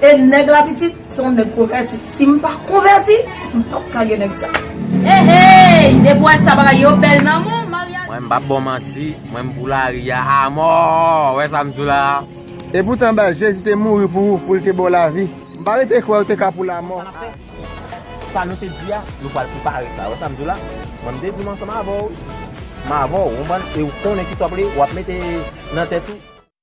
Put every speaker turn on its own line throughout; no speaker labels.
E nèg la pitit se yon nèg konvèti. Si m pa konvèti, m p ap ka gen nèg sa. Heyy!
Depi wè sa bagay yo bèl nan mou maryaj. Mwen m pap baw manti,
mwen m pou lari a amò! Ou wè sa m di w la a? E poutan baz,
Jezi te mouri pou ou, pou l te ba w lavi. M pa rete kwè ou te ka pou lamò a. Sa
nou te di a, nou pral prepare sa. Ou wè sa m di w la? Mwen m te di m ansanm avè w, m avè w, ou konprann? E ou konnen ki sa w ap mete nan tèt ou.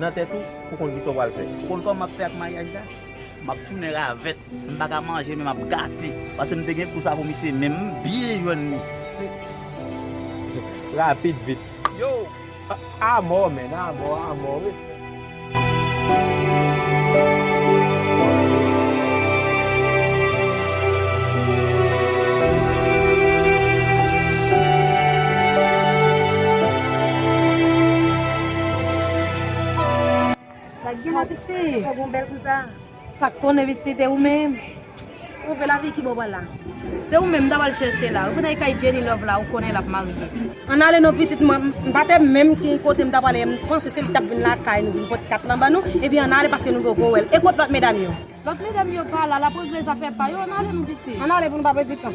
nan tèt ou pou konn kisa w pral fè. Ou konn kòman m ap fè ak maryaj
la? M ap tounen ravèt. M pa ka manje men m ap gate. Pase m te gen gou sa pou misye men m byen jwenn li. Se.
Rapid vit. Yow! Amò menn, amò, amò wi.
Sak gen la piti? Ti chòv ou bèl konsa? Sak konnen piti
e ou menm? Ou vle
lavi ki bò pral la? Se ou menm m ta
pral chèche la. Ou konn al kay Jenny Love la ou konnen l ap marye. Ann ale non pitit
mwen. M pa te menm ki kote m ta prale e m panse se li k t ap vin lakay nou vin pot kat lan ban nou. Ebyen ann ale paske nou gen w gwo wèl. E kot lòt medam yo? Lot medam yo pa
la lap regle zafè pa yo ann ale nou piti. Ann ale pou nou pa pedi tan.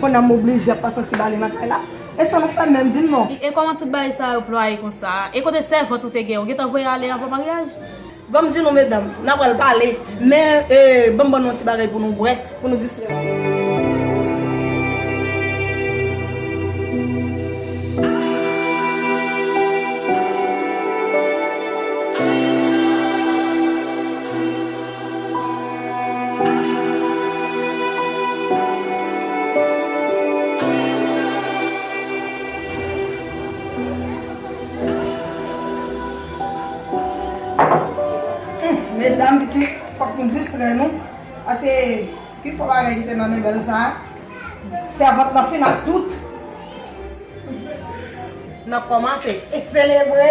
Kona m oblije ap pase yon ti bale nan kay la. E sa nou fè menm, di m non? E kòman tout bagay sa
yo plwaye konsa? E kote sèvant ou te gen? Ou gentan voye ale anvan maryaj? Ban m di nou
medam, n a pral pale, men e ban m ban nou yon ti bagay pou nou bwè, pou nou distrè nou. Medam pitit fòk nou distrè nou pase pi fò bagay ki te nan mebèl sa sèvant lan fin ak tout
nap kòmanse selebre.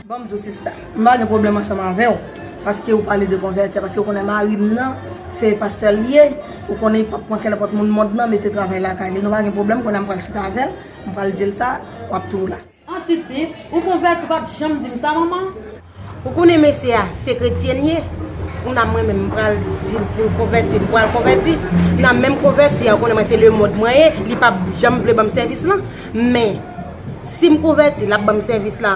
Banm diw sista,
m pa gen pwoblèm ansanm avèw paske ou pale de konvèti a, paske ou konnen marim nan se pastè li ye, ou konnen li pap pran kè nenpòt moun mond nan mete travay lakay li, nou pa gen pwoblèm, kounya m pral chita avèl, m pral dil sa, wap tou la. An titit,
ou konvèti ou pat janm dim sa manman? Ou konnen mesye a se kretyen li ye, kounya mwen menm m pral dil poul konvèti, li pral konvèti, kounya menm konvèti a ou konnen mwen se lemond mwen ye, li pap janm vle banm sèvis lan, men sim konvèti lap banm sèvis la.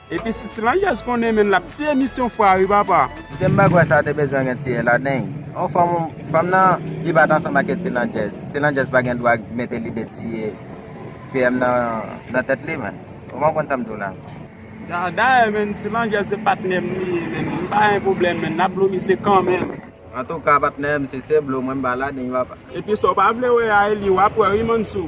Epi si ti
langyèz konnen menn lap ti emisyon fwa wi papa. Kite bagua sa te
bezwen gen ti ela deny on fanm fanm nan li pat ansanm ake ti landjèz ti landjèz pa gen dwa mete lide tiye PM nan nan tèt li menn ou pa konn sam diw la. Dayè
menn ti landjèz se patnèm li ye menn m pa gen pwoblèm menn nap blo misye kanmenm. Antouka patnèm
si se blo mwen m ba la deny papa. Epi sa w pa vle wè
a Elie wap wè wi Mansou.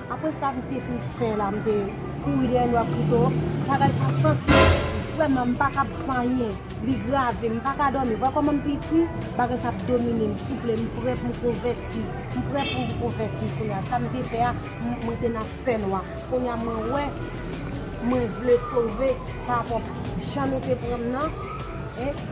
Apre sa m te fin fè la m te kouri dèyè lwa Pluto, bagay sa santi m vrèman m paka ap vanyen, li grave, m paka dòmi, wè kòman m piti, bagay sa ap domine m, souple m prè pou m konvèti, m prè pou m konvèti kounya, sa m te fè a mwen te nan fènwa, kounya mwen wè mwen vle sove pa rapò jan nou te pran m nan,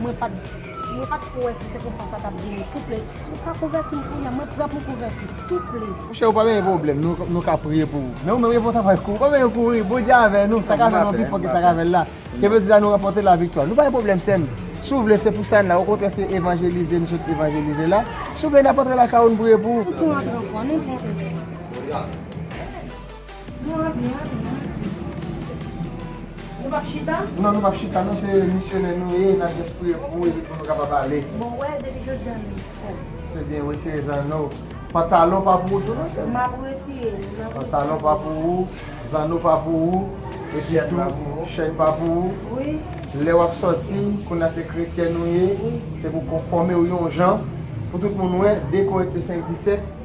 mwen pat. Mwen pat ko wè si se konsa sa tap vini souple ou ka konvètim kounya mwen prè pou konvèti souple. Monchè ou pa benyen pwoblèm
nou ka priye pou ou men ou menm gen pou travay kou ou pa benyen kouri Bondye avè nou sa ka fè nou pi fò ke sa ka fèl la ke vle di la nou ranpòte la viktwa nou pa gen pwoblèm sèm si ou vle se pou sa n la okontrè se evanjelize nou sot evanjelize la souple nap antre lakay ou nou priye pou ou. Fòk nou antre ankò nou
pran ou. Nou ap ye
ale nan Ayiti pou nou priye. Nou pap chita? Non nou pap chita nou se misyonè nou ye nap just priye pou nou epi pou nou kapab
ale.
Bon wè
depi
jodi a nou fò. Se byen retire zanno. Pantalon pa pou ou tou non sèm. Map retire
li map retire. Pantalon pa pou
ou, zanno pa pou ou, epi tou chèn pa pou ou. Wi. Lè wap
sòti
kounye a se kretyèn ou ye, se pou konfòme ou yon jan pou tout moun wè dekò et se senk disèt.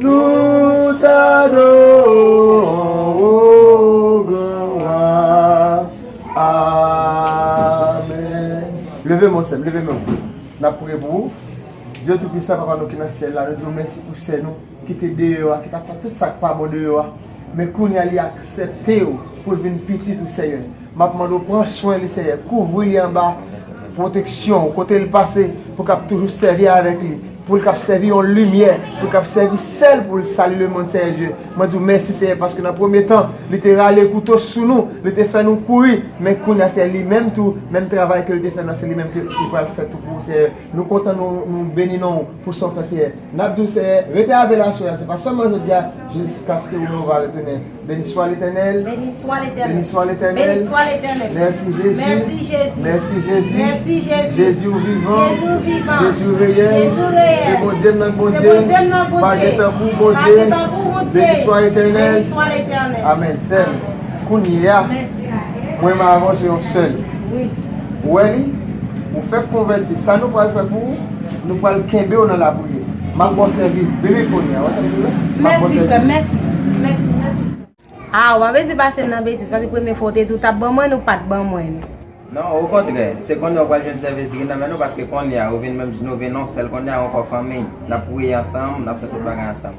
Nou t'adorons ou gran wa Amen. Leve men w sèm, leve men w. Nap priye pou ou. Dieu tout puissant papa nou ki nan syèl la nou diw mèsi pou sè nou ki te deyò a ki tap fè tout sak pa bon deyò a men kounya li aksèptew poul vin pitit ou senyè. Map mande w pran swen li Senyè, kouvri li anba pwoteksyon w kote l pase pou l kab toujou sèvi avèk li, pou l kab sèvi yon limyè, pou l kab sèvi sèl pou l sali lemond Senyè Dye. Mwen di w mèsi Senyè paske nan premye tan li te rale kouto sou nou, li te fè nou kouri, men kounya Senyè li menm tou menm travay ke l te fè nan se li menm ke li pral fè tou pou ou Senyè. Nou kontan nou beni non w pou sa w fè Senyè. Nap di w Senyè rete avè l aswè a se pa sèlman jodia jiskaske ou men ou va retounen. Beniswa letènèl Beniswa letènèl
Beniswa letènèl Beniswa
letènèl
Mèsi Jezi
Mèsi
Jezi Mèsi Jezi
Mèsi Jezi Jezi
ou vivan Jezi
ou vivan Jezi
ou reyèl Jezi
ou reyèl Se Bondye
m nan Bondye
Se Bondye m nan Bondye Pa gen
tankou Bondye Pa gen
tankou Bondye
Beniswa letènèl Beniswa
letènèl
Amèn sèm
Kounyeya
Mwen m avan
se yon sèl
Ou wè li
Ou fèk konvèti Sa nou pral fè pou ou. Nou pral kenbew nan la priyè. Map baw sèvis dre kounya. Wè sa mdou la? Map baw sèvis
dre. Mèsi frèm, mèsi, mèsi. Ah ou pa bezwen pasem nan betiz paske premye fwa ou te di ou tap ban mwen ou pat ban mwen li. Non o
kontrè, se kounya ou pral jwenn sèvis dre nan men nou paske kounya ou vin menm nou vin yon sèl kounya ankò fanmiy. Nap priye ansanm, nap fè tout bagay ansanm.